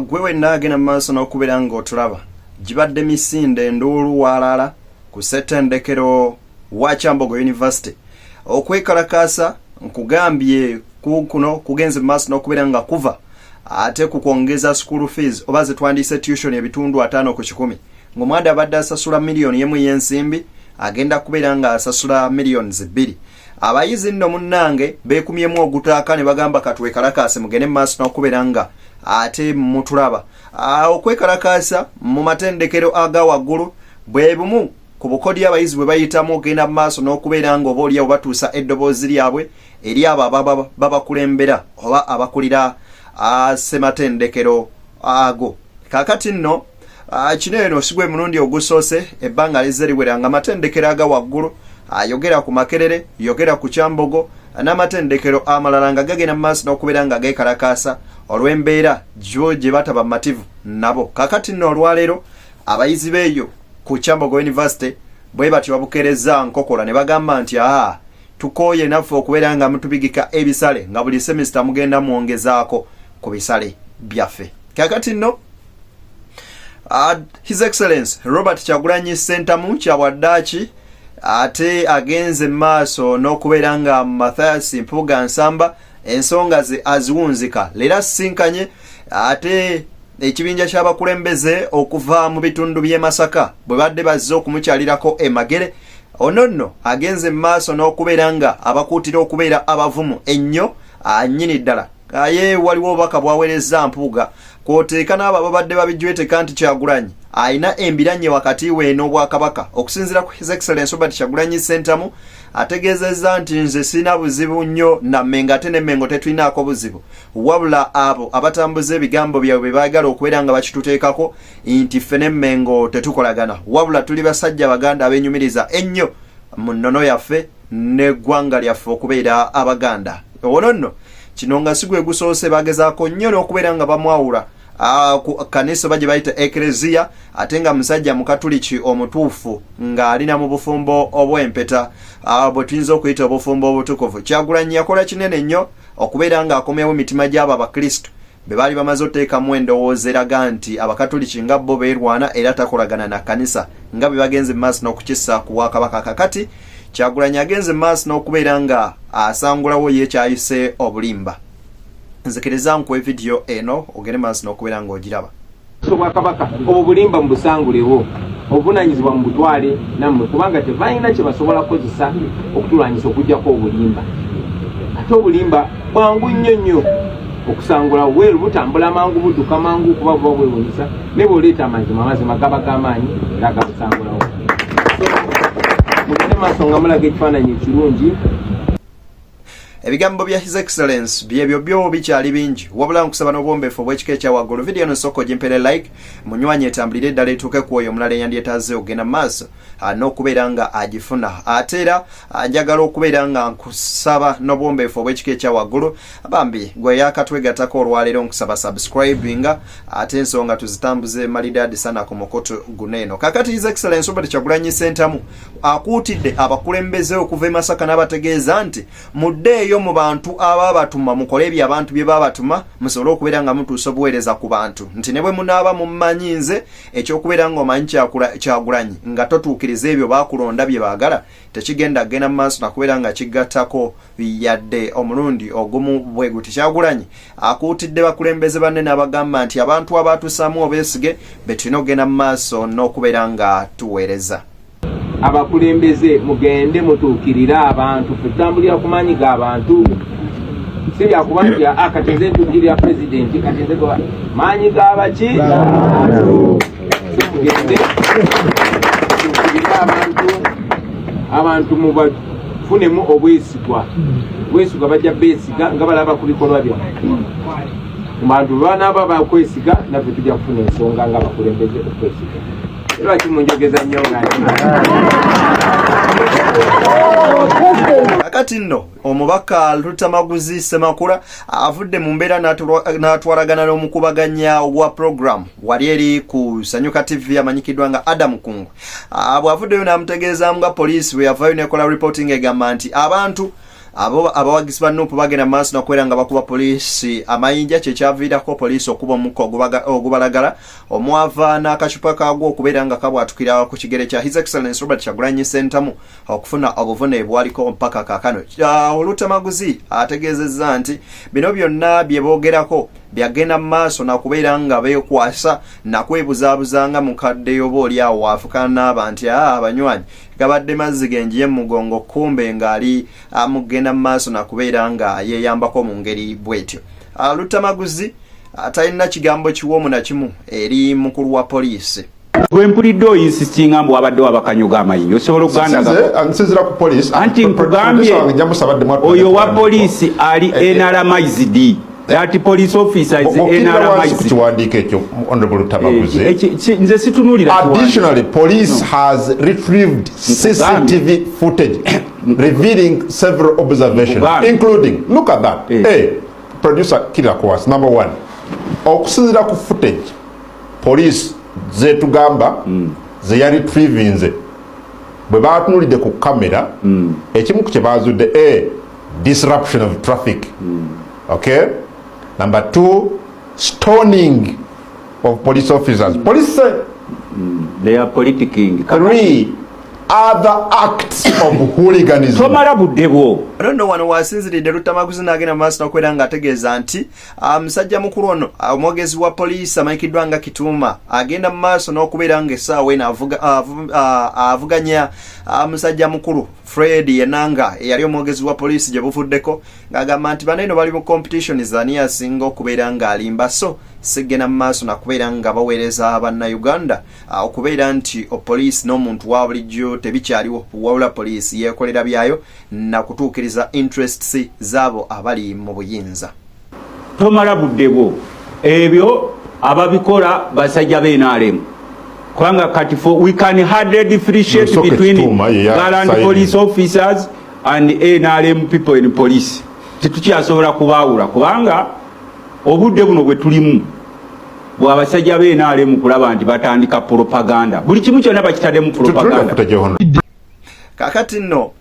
gwe wenna agenda mu maaso n'okubeera ng'otulaba gibadde misinde enduulu waalala ku ssetendekero wa Kyambogo University okwekalakaasa nkugambye kuno kugenze maaso n'okubeera nga kuva ate ku kwongeza school fees oba zetwandiise tuition ebitundu ataano ku kikumi ng'omwanda abadde asasula miliyoni emu y'ensimbi agenda kubeera ng'asasula miliyoni zibbiri abayizi nno munnange beekumyemu ogutaaka ne bagamba katwekalakaase mugende mu maaso n'okubeera nga ate mutulaba okwekalakaasa mu matendekero aga waggulu bwe bumu ku bukodyo abayizi bwe bayitamu okugenda mu maaso n'okubeera nga oba oliawo batuusa eddoboozi lyabwe eri abo ababa babakulembera oba abakulira ssematendekero ago kakati nno kino eno sigwa emulundi ogusoose ebbanga lizze liwera nga amatendekero aga waggulu ayogera ku makerere yogera ku kyambogo n'amatendekero amalala nga gagenda mu maaso n'okubeera nga geekalakaasa olw'embeera gye bataba mumativu nabo kakati nno olwaleero Abayizi beeyo ku Kyambogo University bwe batyo babukereza nkokola ne bagamba nti aa tukooye naffe okubeera nga mutubigika ebisale nga buli semisita mugenda mwongezaako ku bisale byaffe kakati nno uh, his excellence robert kyagulanyi sentamu kyabwaddaaki ate agenze mu maaso n'okubeera nga mathias mpuuga nsamba ensonga ze aziwunzika leero asisinkanye ate ekibinja ky'abakulembeze okuva mu bitundu by'e masaka bwe badde bazze okumukyalirako emagere ono nno agenze mu maaso n'okubeera nga abakuutira okubeera abavumu ennyo anyini ddala aye waliwo obubaka bwaweerezza mpuuga kwoteeka n'abo ababadde babijweteka nti kyagulanyi alina embiranye wakati we n'obwakabaka okusinziira ku his excellence obert kyagulanyi sentamu ategeezezza nti nze sirina buzibu nnyo na mengo ate ne mengo tetulinaako buzibu wabula abo abatambuza ebigambo byabwe bye baagala okubeera nga bakituteekako nti ffe ne mengo tetukolagana wabula tuli basajja baganda abenyumiriza ennyo mu nnono yaffe n'eggwanga lyaffe okubeera abaganda owono nno kino nga si gwe gusoose bagezaako nnyo n'okubeera nga bamwawula Ah, ku kanisa oba gye bayita ekereziya ate nga musajja mukatuliki omutuufu ng'ali na mu bufumbo obw'empeta ah, bwe tuyinza okuyita obufumbo obutukuvu kyagulanyi yakola kinene nnyo okubeera ng'akomyawo emitima gy'abo abakristo be baali bamaze oteekamu endowooza eraga nti abakatuliki nga bo beerwana era takolagana na kanisa nga be bagenze mu maaso n'okukissa ku bwakabaka kakati kyagulanyi agenze mu maaso n'okubeera nga asangulawo ye kyayise obulimba nzikiriza nkuwe vidiyo eno ogende maaso n'okubeera ng'ogiraba obwakabaka obwo bulimba mubusangulewo obuvunanyizibwa mu butwale nammwe kubanga tebalina kye basobola kukozesa okutulwanyisa okujjako obulimba ate obulimba bwangu nnyo nnyo okusangula weeru butambula mangu budduka mangu kuba buba bwewunyisa naye bwoleeta amazima amazima gaba g'amaanyi era gabusangulawo mugende maaso nga mulaga ekifaananyi ekirungi ebigambo bya his excellence byebyo byo bikyali bingi wabula nkusaba n'obwombeefu obw'ekika ekya waggulu vidiyo no nsooka ogimpere like munywanye etambulire eddala etuuke ku oyo omulala eyandyetaaze okugenda mu maaso ah, n'okubeera nga agifuna ate era ah, njagala okubeera nga nkusaba n'obwombeefu obw'ekika ekya waggulu bambi gwe yakatwegatako olwaleero nkusaba subscribinga ate ensonga tuzitambuze malidaadi sana ku mukutu guno eno kakati his excellence obert kyagulanyi sentamu akuutidde abakulembeze okuva e Masaka n'abategeeza nti muddeeyo mu bantu abaabatuma mukole ebyo abantu bye baabatuma musobole okubeera nga mutuusa obuweereza ku bantu nti ne bwe munaaba mummanyi nze ekyokubeera ng'omanyi kyagulanyi nga totuukiriza ebyo baakulonda bye baagala tekigenda kugenda mu maaso nakubeera nga kigattako yadde omulundi ogumu bwe guti kyagulanyi akuutidde bakulembeze banne n'abagamba nti abantu abaatuusaamu obeesige be tulina okugenda mu maaso n'okubeera nga tuweereza abakulembeze mugende mutuukirire abantu fetutambulira ku maanyi ga bantu si byakuba nti aa ah, kati nze ntuukirira pulezidenti kati nze maanyi ga baki mugende tuukirire abantu abantu mubafunemu obwesigwa obwesigwa bajja beesiga nga balaba ku bikolwa byabwe mu bantu banaaba bakwesiga naffe tujja kufuna ensonga nga bakulembeze okwesiga Lwaki munjogeza nnyo nga kakati nno omubaka lutamaguzi semakula avudde mu mbeera n'atwalagana n'omukubaganya wa programu wali eri ku sanyuka tv amanyikiddwa nga adam kungwe ah, bw'avuddeyo n'amutegeezaamu nga poliisi bwe yavayo nekola reporting egamba nti abantu abo abawagizi ba nup bagenda maaso nakubeera nga bakuba poliisi amayinja kyekyaviirako poliisi okuba omukka ogubalagala omwava n'akacupa kaagwo okubeera nga kabwatukira ku kigere kya his excellence robert kyagulanyi sentamu okufuna obuvune bwaliko mpaka kaakano olutamaguzi ategeezezza nti bino byonna bye boogerako byagenda mu maaso nakubeera nga beekwasa nakwebuzaabuza nga mukadde yoba oli awo waafukana n'aba nti a ah, abanywanyi gabadde mazzi genjiye mu mugongo kumbe ng'ali amugenda ah, mu maaso nakubeera nga yeeyambako mu ngeri bw'etyo Ah, luttamaguzi ah, talina kigambo kiwoomu na kimu eri mukulu wa poliisi gwempulidde oyinsisinga mbu wabadde wabakanyuga amayinji osobola okugandaansinzira ku poliisi anti nkugambye oyo wa poliisi ali eh, eh. nrmizd that police officer is NRMIC kiwandiiko ekyo honorable Tamaguzi eh, eh, nze situnuulira additionally police has retrieved CCTV footage revealing several observations Buganda. including look at that eh. Hey, eh, producer killer course number one okusinzira ku footage police zetugamba mm. zeyali trivinze bwe batunulidde ku kamera mm. ekimu ku kyebazudde a eh, disruption of traffic mm. okay number two stoning of police officers mm. police mm. they are politicking three other acts of hooliganism tomala budde bwo rondo wano wasinziridde lutamaguzi n'agenda maaso n'okubeera ng'ategeeza nti ah, musajja mukulu ono ah, omwogezi wa poliisi amanyikiddwa nga kituuma agenda mu maaso n'okubeera ng'essaawa eno ah, avuganya musajja mukulu fred yenanga eyali omwogezi wa poliisi gye buvuddeko ng'agamba nti bana eno bali mu competition zani asinga okubeera ng'alimba so sigenda mu maaso nakubeera nga baweereza bannayuganda Ah, okubeera nti oh, poliisi n'omuntu wa bulijjo tebikyaliwo wabula poliisi yeekolera byayo na kutuukiriza interests z'abo abali mu buyinza tomala budde bwo ebyo ababikola basajja benaalemu kubanga kati fo we can hardly differentiate between galant police officers and nrm people in police tetukyasobola kubaawula kubanga obudde buno bwe tulimu bwabasajja be nrm kulaba nti batandika propaganda buli kimu kyona bakitademu propaganda kakati no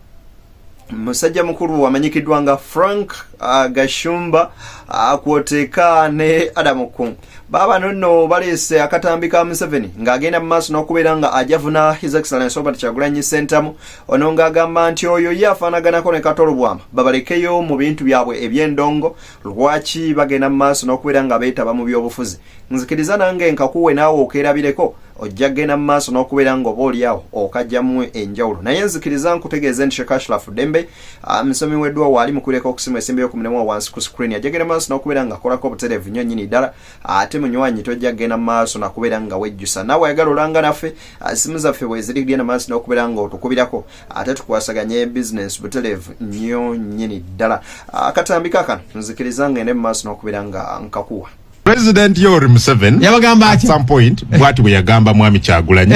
musajja mukulu wamanyikiddwa nga frank uh, gashumba uh, kwoteeka ne adamu kung baaba nonno baleese akatambi ka museveni ng'agenda mu maaso n'okubeera nga ajavuna his excellence obert kyagulanyi sentamu ono ng'agamba nti oyo ye afaanaganako ne katolobwama babalekeyo mu bintu byabwe eby'endongo lwaki bagenda mu maaso n'okubeera nga beetaba mu byobufuzi nzikiriza nange nkakuwe naawe okeerabireko ojja kugenda mu maaso n'okubeera nga oba oliawo okajjamu enjawulo naye nzikiriza nkutegeeze nti shekashlafu dembe ah, musomi weddwa waali mukulireko okusimu esimba y'okumulemu owansi ku screen ajja kugenda mu maaso n'okubeera nga akolako obutereevu nnyo nnyini ddala ate munywanyi tojja kugenda mu maaso nakubeera nga wejjusa naawe ayagala olanga naffe ah, simu zaffe bweziri kugenda mu maaso n'okubeera nga otukubirako ate tukwasaganye business butelevu nnyo nnyini ddala akatambi kakano nzikiriza ngende mu maaso n'okubira nga nkakuwa president yoweri museveni yabagamba at some point bwati bwe yagamba mwami kyagulanyi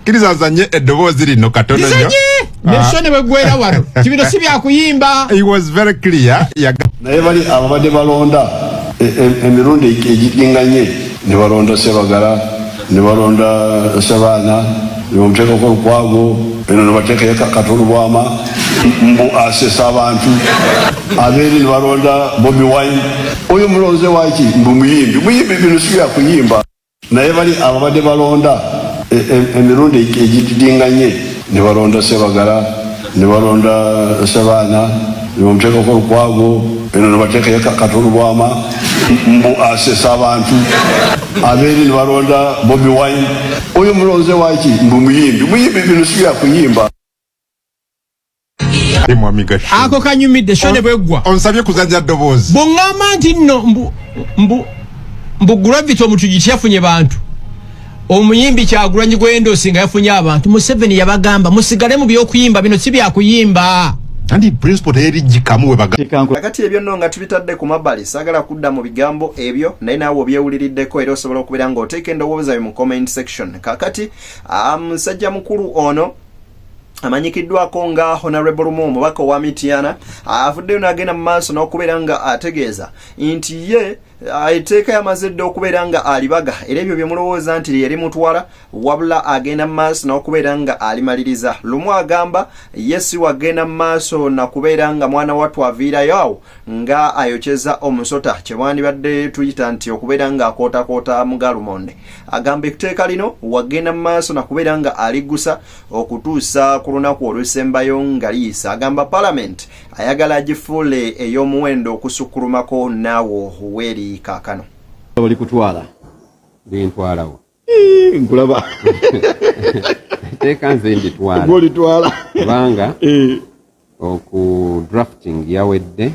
kiriza azanye eddoboozi lino katono nyo mesho ah. ne bwegwera wano kibino si byakuyimba he was very clear naye bali ababadde balonda e, e, emirundi egiginganye ne balonda sebagala ne balonda Ssebaana ne bamuteekako olukwago eno ne bateekayo Kato Lubwama mbu asesa abantu abeeri ne balonda Bobi Wine oyo mulonze waaki mbu muyimbi muyimbi bino si bya kuyimba naye bali ababadde balonda e- e- emirundi egididinganye ne balonda Sebagala ne balonda Ssebaana ne bamuteekako Lukwago eno ne bateekayo Ka- Kato Lubwama mbu asesa abantu abeeri ne balonda Bobi Wine oyo mulonze waki mbu muyimbi muyimbi bino si bya kuyimba Ye mwami Gashu. ako kanyumidde sho ne bweggwa Onsabye kuzanya ddoboozi. bwongamba nti nno mbu mbu mbu gravity omutujiti yafunye bantu omuyimbi kyagulanyi gwendosi nga yafunye abantu museveni yabagamba musigale mu byokuyimba bino si byakuyimba anti principal teyeri jikamu webagakati ebyo no nga tubitadde ku mabali sagala kudda mu bigambo ebyo naye naawe obyewuliriddeko era osobola okubeera nga oteeka endowooza yo mu comment section kakati ah, musajja um, mukulu ono amanyikiddwako nga honorable rumu omubaka owa mitiana avuddeyo nagenda mu maaso n'okubeera nga ategeeza nti ye Ah, etteeka yamaze dda okubeera nga alibaga era ebyo bye mulowooza nti lyeri mutwala wabula agenda mu maaso n'okubeera nga alimaliriza lumu agamba ye si wagenda mu maaso na kubeera nga mwana wattu aviirayo awo nga ayokyeza omusota kye mwandibadde tuyita nti okubeera nga akootakoota mugalumonde agamba etteeka lino wagenda mu maaso na kubeera nga aliggusa okutuusa ku lunaku olusembayo nga liyisa agamba palamenti ayagala agifuule ey'omuwendo okusukkulumako naawe ohuweeri kaakano oli kutwala bintwalawo nkulaba teeka nze mbitwalaolitwala kubanga eh. oku drafting yawedde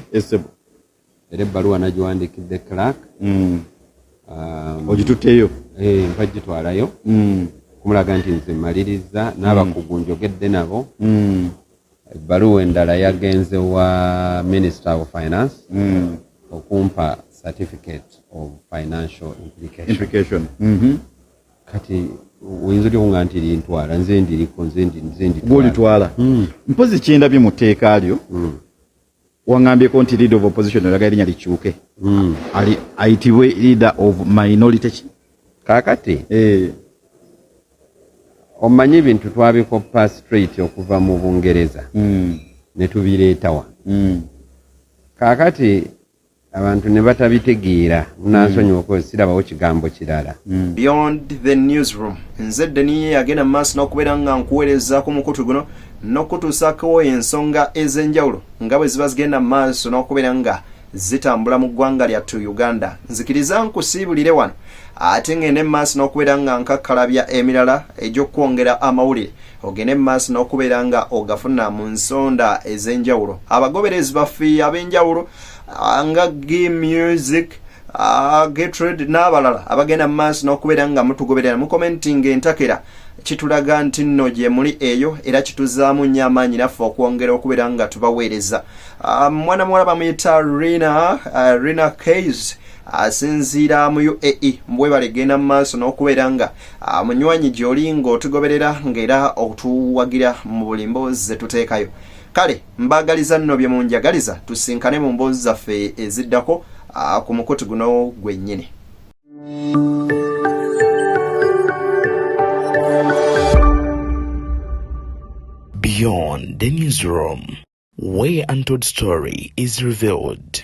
era ebbaluwa nagiwandiikidde clark mm. um, ogitutteyo eh, mpa gitwalayo mm. kumulaga nti nze mmaliriza n'abakugu mm. njogedde nabo ebbaluwa endala yagenze wa minister of finance okumpa certificate of financial implication mm-hmm. kati oyinza otya kunga nti lintwala nze ndiriko nze nditwala mpozi kyendabye mu tteeka lyo wangambyeko nti leader of opposition olaga erinya likyuke mm. ali ayitibwe leader of minority ki kakati eh. omanyi ebintu twabikoppa straight okuva mu bungereza mm. netubireetawa mm. kakati abantu ne batabitegeera munansonyiwa mm. kozi sirabawo kigambo kirala mm. beyond the newsroom nze deniye yagenda mu maaso n'okubeera nga nkuweereza ku mukutu guno n'okutuusakowo ensonga ez'enjawulo nga bwe ziba zigenda mu maaso n'okubeera nga zitambula mu ggwanga lyattu uganda nzikiriza nkusiibulire wano ate ng'ende mu maaso n'okubeera nga nkakkalabya emirala egy'okwongera amawulire ogende mu maaso n'okubeera nga ogafuna mu nsonda ez'enjawulo abagoberezi baffe ab'enjawulo ah, nga gi music ah, getrade n'abalala abagenda mu maaso n'okubeera nga mutugoberera mukomentinga entakera kitulaga nti nno gye muli eyo era kituzaamu nnyo amaanyi naffe okwongera okubeera nga tubaweereza ah, mwana muwala bamuyita rina rina kays asinziira mu uae mbwebale genda mu maaso n'okubeera nga Ah, munywanyi gyoli ng'otugoberera ng'era otuwagira mu buli mboozi ze tuteekayo kale mbaagaliza nno bye munjagaliza tusinkane mu mboozi zaffe eziddako ah, ku mukutu guno gwennyini beyond the newsroom where untold story is revealed